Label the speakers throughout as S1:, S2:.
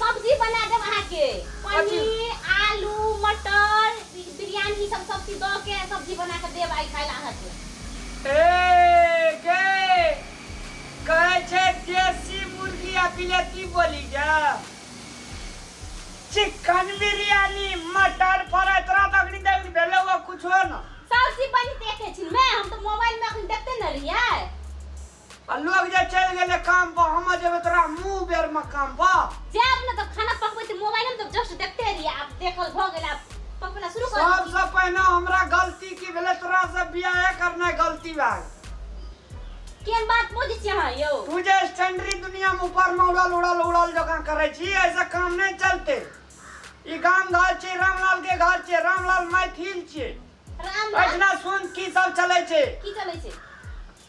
S1: सब्जी बना देब अहाँ के पनीर आलू मटर बिरयानी ई सब सब चीज द के सब्जी बना के देब आई खाइला अहाँ के ए
S2: गे कहै छै देसी मुर्गी आ बिलेती बोली गे चिकन बिरयानी मटर फ्राई तोरा तऽ अखनी देख भेलौ आ कुछो न सब चीज बनि देखे
S1: छी मैं हम तो मोबाइल में अखन देखते न रहियै
S2: आ लोग जे चलि गेलै काम पर हम जेबै तोरा मुंह बेर में काम पर जायब ने तऽ खाना पकबै तऽ मोबाइल
S1: में तऽ जस्ट देखते रहियै आब देखल भऽ गेल आब पकबना शुरू कर सबसे पहले हमरा
S2: गलती की भेलै तोरा से बियाह करना गलती भए गेल केन बात बुझै छी
S1: अहाँ यौ तू जे स्टैंडरी
S2: दुनिया में ऊपर में उड़ल उड़ल उड़ल जकाँ करै छी ऐसा काम नहीं चलते ई गाम घर छै रामलाल के घर छै रामलाल मैथिल छै राम राम एहिठिना
S1: सुन की
S2: सब चलै छै की चलै छै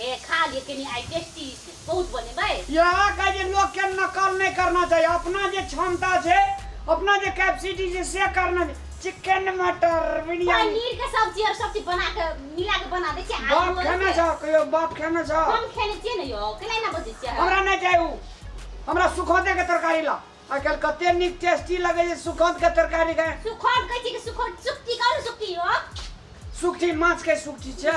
S2: हे
S1: खा लिए कनी आई टेस्टी बहुत बने भाई यहाँ का जे लोग
S2: के नकल नहीं करना चाहिए अपना जे क्षमता से अपना जे कैपेसिटी से से करना चिकन मटर बिरयानी पनीर के सब्जी और
S1: सब्जी बना के मिला के बना दे छियै बाप आलू खेने
S2: छ कहियो बाप खेने छ हम खेने छियै ने यो केना
S1: ना बजे छियै हमरा नहीं चाहिए उ
S2: हमरा सुखोते के तरकारी ला आजकल कते निक टेस्टी लगे जे सुखोत के तरकारी खाए सुखोट कहै
S1: छी कि सुखोट सुक्ति कहू सुक्ति यो सुखी
S2: माछ के सुखी छै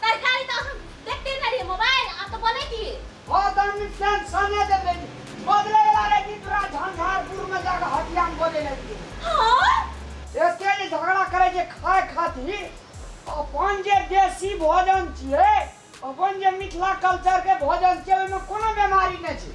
S1: तरकारी तऽ हम देखते नहि
S2: रहियै मोबाइल आब तऽ बोलै की हँ तऽ हम फ्रेंड सने दे रही बदले वाला रही कि तोरा झंझारपुर में जाकर हटिया में बोले लगी हाँ
S1: एते जे
S2: झगड़ा करे जे खाए खातिर अपन जे देसी भोजन छिए अपन जे मिथिला कल्चर के भोजन छिए ओहिमे कोनो बीमारी नहि छै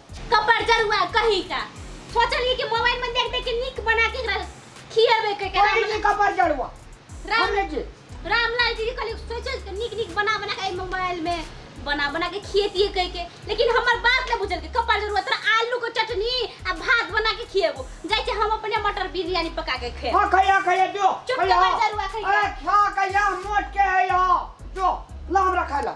S2: कपर जरुआ
S1: कही का सोचलिए कि मोबाइल में देख देख के निक बना के एकरा खियावे के एकरा कोई जी मतलब कपर जड़वा
S2: राम हमने जी
S1: रामलाल जी कहले सोचल के निक निक बना बना के एहि मोबाइल में बना बना के खिएतिए कह के लेकिन हमर बात न बुझल के कपर जरुआ तोरा आलू के चटनी आ भात बना के खिएबो जाय के हम अपने मटर बिरयानी पका के खाए हां खैया खैया जो
S2: चुप खैया। कपर जड़वा
S1: खैया। अरे खा खैया
S2: मोट के है या जो ला हमरा खाइला